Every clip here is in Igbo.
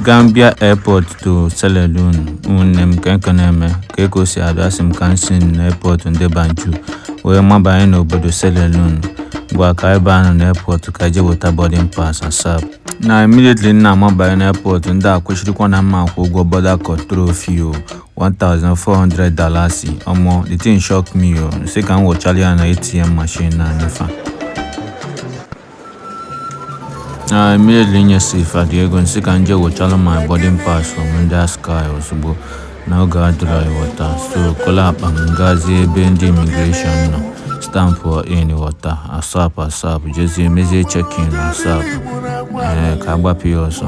Gambia Airport to Sierra Leone ụmụnne m kee nke na-eme ka eko si ada asị m ka m si na airport ndị Banjul wee mabanye n'obodo Sierra Leone ngwa ka ebe ahụ na airport ka je weta boarding pass asap na immediately m na-amabanye na airport ndị a kwechirikwa na m ma-akwụ ụgwọ border control fee o 1400 dalasis ọmọ the thing shock me o sị ka m wụchara ya na ATM machine na nye fa na immediately nyesị fa the ego nsị ka nje wụchara my boarding pass from ndị ASKY ozugbo na oge adịrọ ị ghọta so kolu akpa m gazie ebe ndị immigration nọ stampụ in ị ghọta asap asap jezie mezie check-in asap ee ka a gbapụ ya ọsọ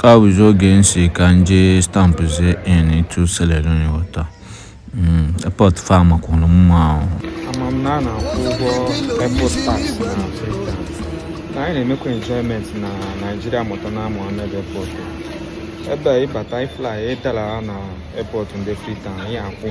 ka ọ bụzi oge nsị ka nje stampụzie into Sierra Leone ị ghọta airport fa makwanụ mma ahụ ama m na a na-akwụ ụgwọ airport tax na Freetown na anyị na-emekwa enjoyment na Nigeria Murtala Mohammed airport ebe ị bata ị fly ị dara na airport ndị Freetown ị ya-akwụ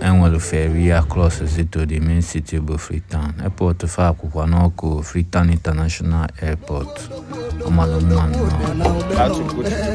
e nwere ferry a crosszie to the main city bụ Freetown airport fa akwụkwa n'ọkụ Freetown International Airport ọ mara mma nnọọ